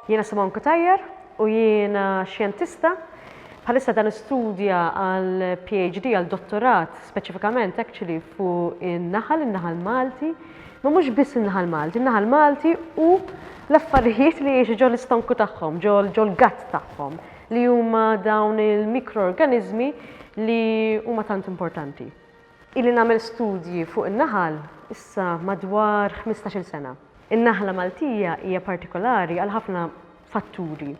Jiena Simon Kutajjar u jiena xjentista. Bħalissa dan istudja għal PhD, għal dottorat, speċifikament actually fuq in-naħal, in-naħal Malti, ma mhux biss in-naħal Malti, in-naħal Malti u l-affarijiet li jiexu ġol istonku tagħhom, ġol gatt tagħhom. li huma dawn il-mikroorganiżmi li huma tant importanti. Ili nagħmel studji fuq in-naħal issa madwar ħmistax-il sena. In-naħla Maltija hija partikolari għal ħafna fatturi.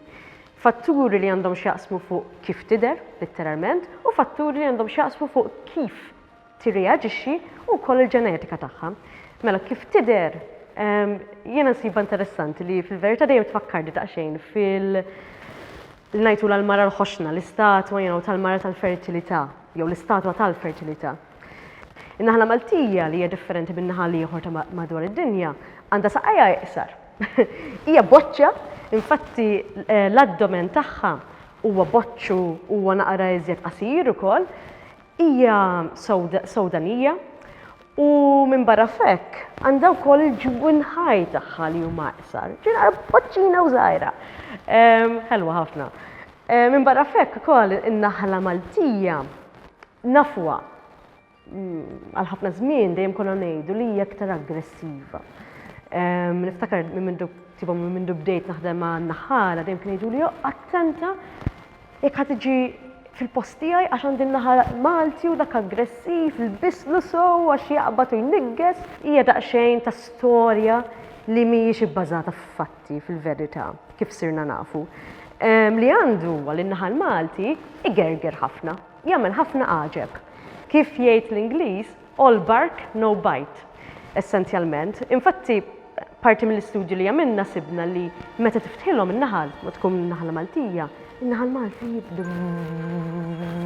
Fatturi li għandhom x'jaqsmu fuq kif tidher, litteralment, u fatturi li għandhom x'jaqsmu fuq kif tirreaġixxi u wkoll il-ġenetika tagħha. Mela kif tidher ehm, jiena nsibha interessanti li fil-verità dejjem tfakkarni daqsxejn fil- ngħidu l-mara l-ħoxna, l-istatwa jew tal-mara tal-fertilità, jew l-istatwa tal-fertilità. In-naħla Maltija li hija differenti minn naħal ieħor ta' madwar id-dinja għandha saqajja iqsar. Hija boċċa, infatti eh, l-addomen tagħha huwa boċċu huwa naqra iżjed qasir ukoll, Hija Sewdanija u minbarra f'hekk għandha wkoll il-ġwinħaj tagħha li huma iqsar. Ġiena boċċina u żgħira. Ehm, ħelwa ħafna. Ehm, minbarra f'hekk ukoll in-naħla Maltija nafwa mm, għal ħafna żmien dejjem konna ngħidu li hija aktar aggressiva. Ehm, niftakar minn mindu tibhom minn mindu bdejt naħdem ma' naħħara dejjem kien jgħidu li attenta Jekk ħa tiġi fil-post tiegħi għax għandi n-naħa Malti u dak aggressiv, ilbislu sew għax jaqbad u jniggeż, hija daqsxejn ta' storja li mhijiex ibbażata f'fatti, fil-verità, kif sirna nafu. Li għandu huwa li n-naħa l-Malti igerger ħafna, jagħmel ħafna għaġeb. Kif jgħid l-Ingliż, All bark, no bite, essenzjalment. Infatti, parti mill-istudju li għamilna sibna li meta tiftħilhom in-naħal, ma tkun naħla Maltija, in-naħal Malti jibda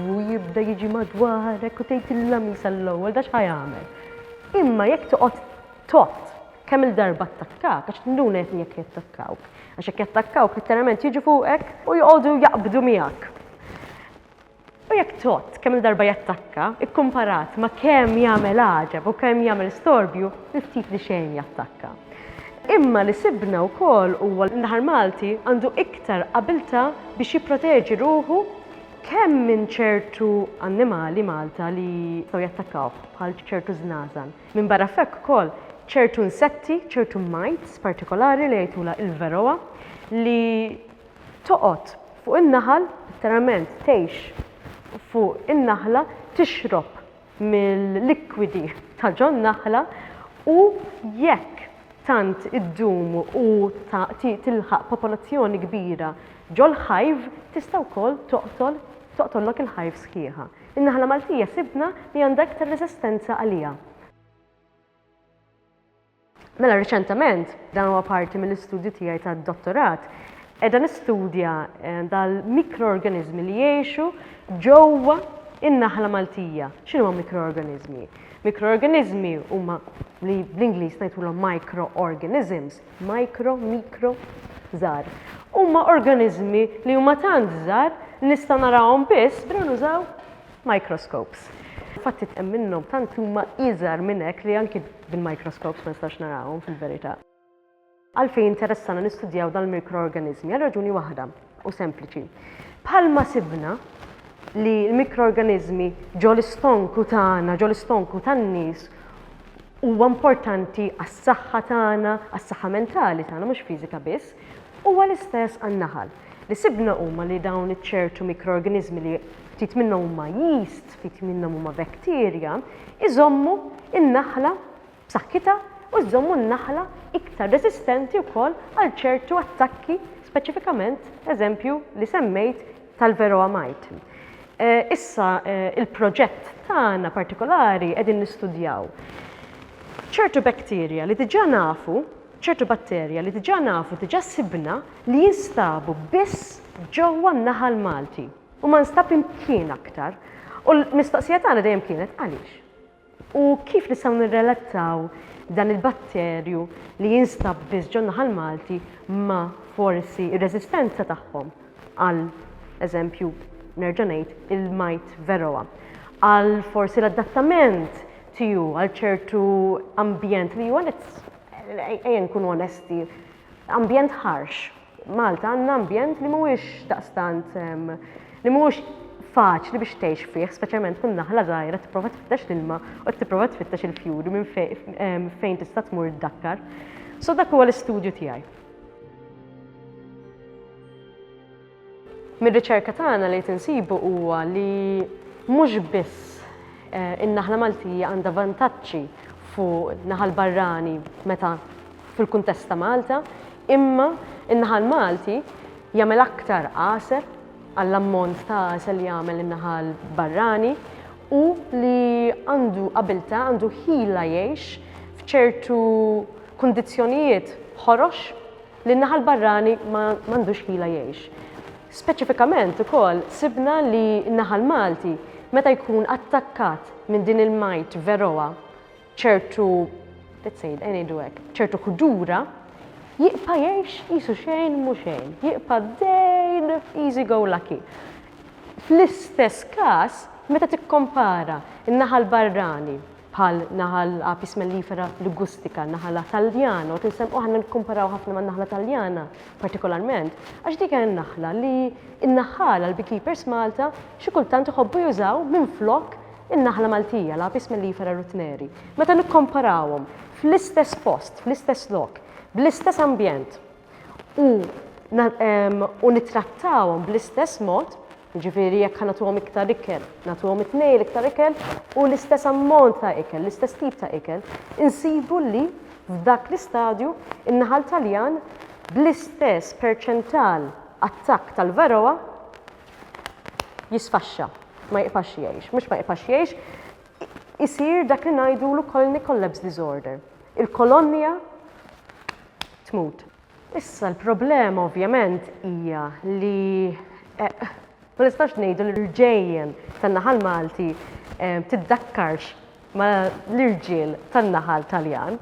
u jibda jiġi madwarek u tgħid il-lami sal-ewwel dax ħajamel. Imma jekk toqgħod tot kemm il-darba attakkak, għax tinduna jekk jekk jattakkawk. Għax jekk jattakkawk, letteralment jiġu fuqek u joqogħdu jaqbdu miegħek. U jekk tott kemm-il darba jattakka, ikkumparat ma' kemm jagħmel għaġeb u kemm jagħmel storbju, il-ftit li xejn jattakka. Imma li sibna wkoll huwa li l-Naħar Malti għandu iktar abiltà biex jipproteġi ruħu kemm minn ċertu annimali Malta li jistgħu jattakkawh bħal ċertu żnażan. Minbarra f'hekk ukoll ċertu insetti, ċertu mites partikolari li jgħitulha il-Varroa li Toqgħod fuq in-naħal, letteralment tgħix fuq in-naħla, tixrob mill-likwidi ta' ġon-naħla u jekk tant iddum u tilħaq popolazzjoni kbira ġol-ħajv, tista' wkoll toqtol toqtollok il-ħajv sħiħa. In-naħla Maltija sibna li għandha iktar reżistenza għaliha. Mela riċentement, dan huwa parti mill-istudju tiegħi tad-dottorat, qiegħda nistudja eh, dal-mikroorganiżmi li jgħixu ġewwa in-naħla Maltija. X'inhuma mikroorganiżmi? Mikroorganiżmi huma li bl-Ingliż ngħidulhom microorganisms, micro, mikro, żgħar. Huma organiżmi li huma tant żgħar li nista' narahom biss bra nużaw Microscopes. Fatti hemm minnhom tant huma iżgħar minn hekk li anki bil-microscopes ma nistax narahom fil-verità. Għalfejn interessana nistudjaw dal-mikroorganiżmi? Għal raġuni waħda, u sempliċi. Bħalma sibna li l-mikroorganiżmi ġol istonku tagħna, ġol istonku tan-nies huwa importanti għas-saħħa tagħna, għas-saħħa mentali tagħna mhux fiżika biss, huwa l-istess għan-naħal. Li sibna huma li dawn iċ-ċertu mikroorganiżmi li ftit minnhom huma yeast, ftit minnhom huma bacteria, iżommu n-naħla b'saħħitha u jżommu n-naħla iktar reżistenti wkoll għal ċertu attakki speċifikament eżempju li semmejt tal-Varroa mite. Eh, issa eh, il-proġett tagħna partikolari qegħdin nistudjaw ċertu bacteria li diġà nafu ċertu batterja li diġà nafu, diġà sibna li jinstabu biss ġewwa n-naħal Malti u ma nstab imkien aktar. U l-mistoqsija tagħna dejjem kienet għaliex? U kif nistgħu nirrelattaw dan il-batterju li jinstab biss ġo n-naħal Malti ma' forsi r-reżistenza tagħhom għal eżempju nerġa' ngħid il-majt veroa, għal forsi l-adattament tiegħu għal ċertu ambjent li huwa Ejja nkunu onesti, ambjent ħarx. Malta għandna ambjent li mhuwiex daqstant li mhuwiex faċli biex tgħix fih, speċjalment tkun naħla żgħira tipprova tfittex l-ilma u tipprova tfittex il-fjuri minn fejn tista' tmur iddakkar. So dak huwa l-istudju tiegħi. Mir-riċerka tagħna li qed insibu huwa li mhux biss eh, in-naħla Maltija għandha vantaġġi fuq naħal barrani meta fil-kuntest ta' Malta, imma in-naħal Malti jagħmel aktar għasel għall-ammont ta' għasel li jagħmel in-naħal barrani u li għandu qabilta għandu ħila jgħix f'ċertu kundizzjonijiet ħorox li n-naħa l-barrani ma għandux ħila jgħix. Speċifikament ukoll sibna li n-naħa l-Malti meta jkun attakkat minn din il-mite varroa ċertu let's say, ngħidu hekk, ċertu ħdura, jibqa' jgħix qisu xejn mhu xejn, jibqa' dejn easy go lucky. Fl-istess każ, meta tikkompara n-naħa l-barrani bħal naħal Apis mellifera ligustica, naħala Taljana, u tinsemmu aħna nikkumparaw ħafna man-naħla Taljana partikolarment, għax dik hija n-naħla li n-naħħala, l-beekeepers Malta, xi kultant iħobbu jużaw minflok in-naħla Maltija, l-Apis mellifera rutneri. Meta nikkomparawhom fl-istess post, fl-istess lok, bl-istess ambjent u u nittrattawhom bl-istess mod, Jiġifieri jekk ħa nagħtuhom iktar ikel, nagħtuhom it-tnejn l-iktar ikel u l-istess ammont ta' ikel, l-istess tip ta' ikel, insibu li f'dak l-istadju n-naħal Taljan bl-istess perċental attakk tal-varroa jisfaxxa, ma jibqax jgħix. Mhux ma jibqax jgħix, isir dak li ngħidulu colony collapse disorder. Il-kolonja tmut. Issa l-problema ovvjament hija li ma nistax ngħidu li l-ġejjen tan-naħal Malti tiddakkarx ma l-irġiel tan-naħal Taljan.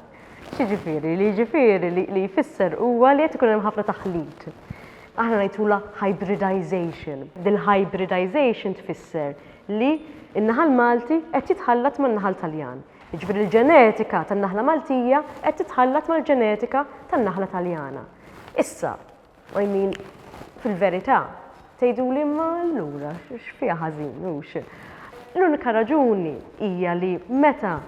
X'jiġifieri? Li jiġifieri li jfisser huwa li qed ikun hemm ħafna taħlit. Aħna ngħidulha hybridization. Din l-hybridization tfisser li n-naħal Malti qed jitħallat man-naħal Taljan. Jiġifieri l-ġenetika tan-naħla Maltija qed titħallat mal-ġenetika tan-naħla Taljana. Issa, I mean, fil-verità, tgħiduli imma allura x'fiha ħażin hux? L-unika raġuni hija li meta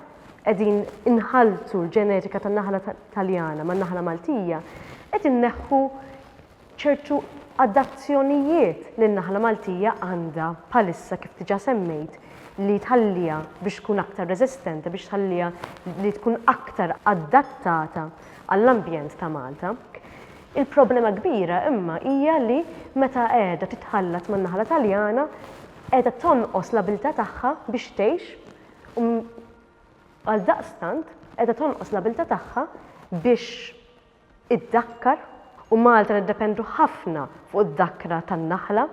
qegħdin inħalltu l-ġenetika tan-naħla Taljana man-naħla Maltija, qed inneħħu ċertu adazzjonijiet li n-naħla Maltija għandha bħalissa kif diġà semmejt li tħalliha biex tkun aktar reżistenti, biex tħalliha li tkun aktar adattata għall-ambjent ta' Malta. Il-problema kbira imma hija li meta qiegħda titħallat man-naħla Taljana qiegħda tonqos l-abiltà tagħha biex tgħix u għaldaqstant qiegħda tonqos l-abiltà tagħha biex iddakkar u Malta niddependu ħafna fuq id-dakkra tan-naħla.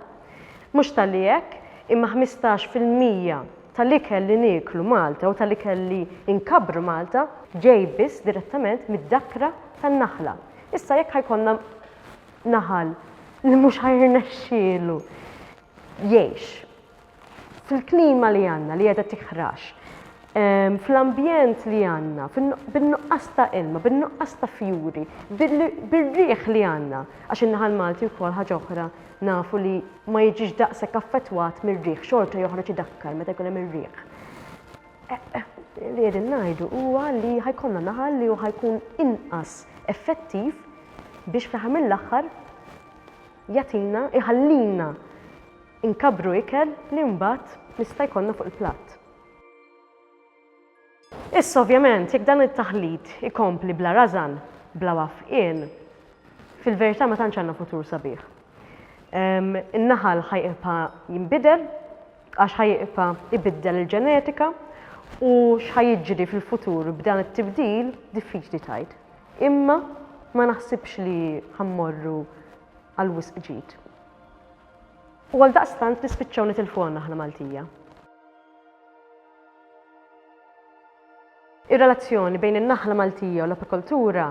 Mhux talli hekk, imma ħmistax fil-mija tal-ikel li nieklu Malta u tal-ikel li nkabbru Malta ġej biss direttament mid-dakkra tan-naħla. Issa jekk ħa jkollna naħal li mhux ħa jirnexxielu jgħix, fil-klima li għandna li qiegħda tiħrax, fl-ambjent li għandna, bin-nuqqas ta' ilma, bin-nuqqas ta' fjuri, bir-riħ li għandna, għax in-naħal Malti wkoll ħaġa oħra nafu li ma jiġix daqshekk affettwat mir-riħ, xorta joħroġ idakkar meta jkun hemm ir-riħ. Li qegħdin ngħidu huwa li ħajkollna naħal li hu ħajkun inqas effettiv biex fl-aħħar mill-aħħar jagħtina, iħallina Inkabbru ikel li mbagħad nista' jkollna fuq il-platt. Issa ovvjament jekk dan it-taħlit ikompli bla rażan, bla wafqien, fil-verità ma tantx għandna futur sabiħ. In-naħal ħa jibqa' jinbidel għax ħa jibqa' ibiddel il-ġenetika u x'ħa jiġri fil-futur b'dan it-tibdil diffiċli tgħid. Imma ma naħsibx li ħa mmorru għal wisq ġid. U għaldaqstant nispiċċaw nitilfuha n-naħla Maltija. Ir-relazzjoni bejn in-naħla Maltija u l-apikoltura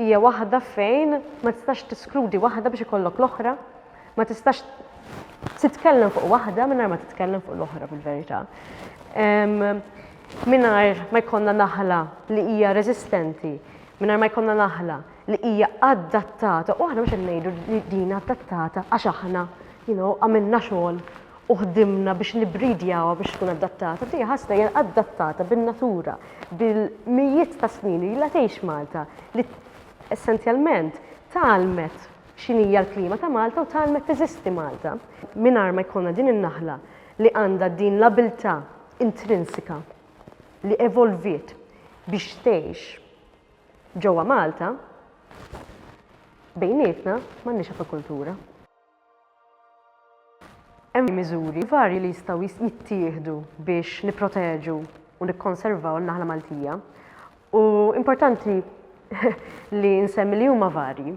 hija waħda fejn ma tistax tiskludi waħda biex ikollok l-oħra, ma tistax titkellem fuq waħda mingħajr ma titkellem fuq l-oħra fil-verità. Mingħajr ma jkollna naħla li hija reżistenti, mingħajr ma jkollna naħla li hija adattata u aħna mhux qed ngħidu li din adattata għax aħna you know, għamilna xogħol u ħdimna biex nibridjawha biex tkun adattata. Dija ħasna hija adattata bin-natura, bil-mijiet ta' snin li la tgħix Malta li essenzjalment talmet x'inhija l-klima ta' Malta u talmet teżisti Malta. Mingħajr ma jkollna din in-naħla li għandha din l-abiltà intrinsika li evolviet biex tgħix Ġewwa Malta, bejnietna m'għandniex apikultura. Hemm miżuri varji li jistgħu jittieħdu biex nipproteġu u nikkonservaw in-naħla Maltija u importanti li nsemmi li huma varji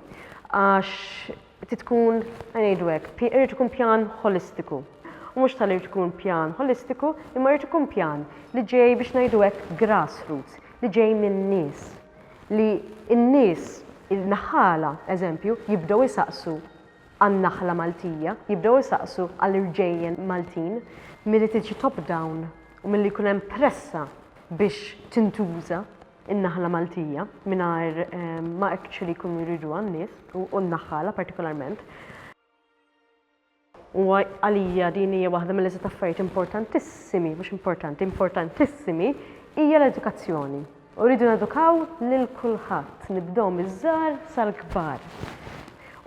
għax Trid tkun, ħa ngħidu hekk, pi, irid ikun pjan ħolistiku. U mhux ta' li jrid ikun pjan ħolistiku, imma jrid ikun pjan li ġej biex ngħidu hekk grassroots, li ġej min-nies. Li n-nies, il-naħħala, eżempju, jibdew isaqsu għan-naħla Maltija, jibdew isaqsu għall-irġejjen Maltin, milli tiġi top-down u milli jkun hemm pressa biex tintuża. in-naħla Maltija mingħajr ma actually jkunu jriduha n-nies u n-naħħala partikolarment. U għalija din hija waħda mill-eżit affarijiet importantissimi, mhux importanti, importantissimi, hija l-edukazzjoni. U rridu nedukaw lil kulħadd, nibdew miż-żgħar sal-kbar.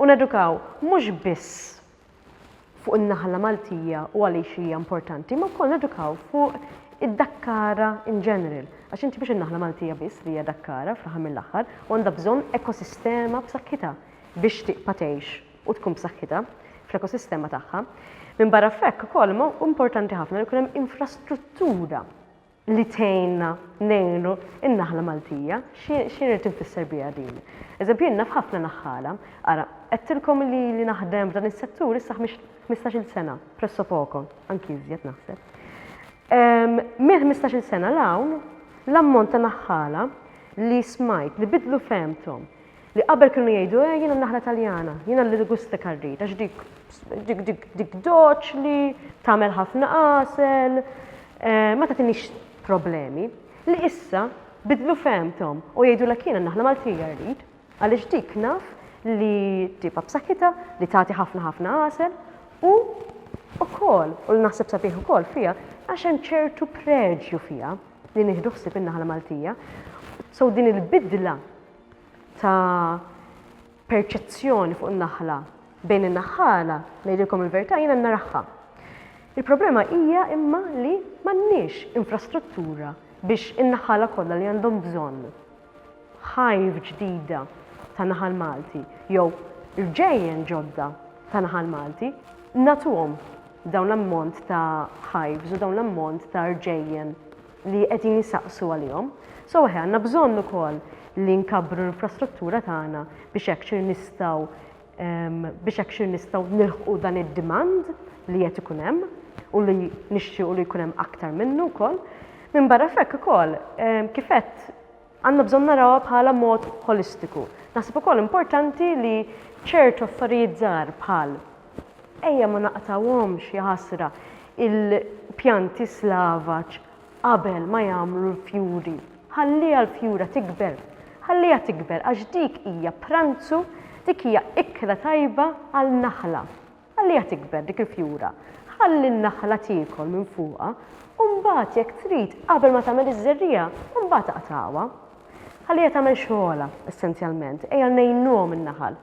U nedukaw mhux biss fuq in-naħla Maltija u għaliex hija importanti, imma wkoll nedukaw fuq id-dakkara in general. Għax inti mhux in-naħla Maltija biss li hija dakkara fl-aħħar mill-aħħar u għandha bżonn ekosistema b'saħħitha biex tibqa' tgħix u tkun b'saħħitha fl-ekosistema tagħha. Minbarra f'hekk ukoll huwa importanti ħafna li jkun hemm infrastruttura li tgħinna ngħinu n-naħla Maltija. Xi rrid infisser biha din? Eżempju jien naf ħafna naħħala. Ara, għedtilkom li ili naħdem f'dan is-settur issa ħmistax-il sena, presso poco, anki iżjed naħseb. Ehm, minn ħmistax-il sena l-hawn, l-ammont ta' naħħala li smajt, li bidlu fehmthom, Li qabel kienu jgħidu, eh, jiena n-naħla Taljana, jiena l-Ligusta Karrita, għax dik, dik, dik, dik doċli, tagħmel ħafna qasel, eh, ma tagħtinix problemi. Li issa bidlu femtom u jgħidu l jiena n-naħla Maltija rrid, għaliex dik naf li tipa b'saħħitha li tagħti ħafna ħafna għasel u ukoll u l naħseb sabiħ ukoll fiha għax hemm ċertu preġju fiha li nieħdu ħsieb in-naħla Maltija. So din il-bidla ta' perċezzjoni fuq in-naħla bejn in-naħħala, ngħidilkom il-verità jiena naraħħa. Il-problema hija imma li m'għandniex infrastruttura biex in-naħħala kollha li għandhom bżonn ħajf ġdida ta' naħal Malti jew rġejjen ġodda ta' naħal Malti natuhom dawn l-ammont ta' ħajfs u dawn l-ammont ta' rġejjen li qegħdin isaqsu għalihom. So eħe għandna bżonn ukoll li nkabbru l-infrastruttura tagħna biex hekk xir nistgħu biex hekk xir nistgħu nilħqu dan id-demand li qed ikun hemm u li nixtiequ li jkun hemm aktar minnu wkoll. Minn barra f'hekk ukoll kif għedt Għandna bżonn narawha bħala mod ħolistiku. Naħseb ukoll importanti li ċertu affarijiet żgħar bħal, ejja ma naqtgħuhomx, jaħasra, il-pjanti slavaġ qabel ma jagħmlu l-fjuri, ħalliha l-fjura tikber, ħalliha tikber għax dik hija pranzu, dik hija ikla tajba għal naħla. Ħalliha tikber dik il-fjura. Ħalli n-naħla tiekol minn fuqha u mbagħad jekk trid qabel ma tagħmel iż-żerriegħa mbagħad aqtagħha. Ħalliha tagħmel xogħolha essenzjalment. Ejja ngħinuhom in-naħal.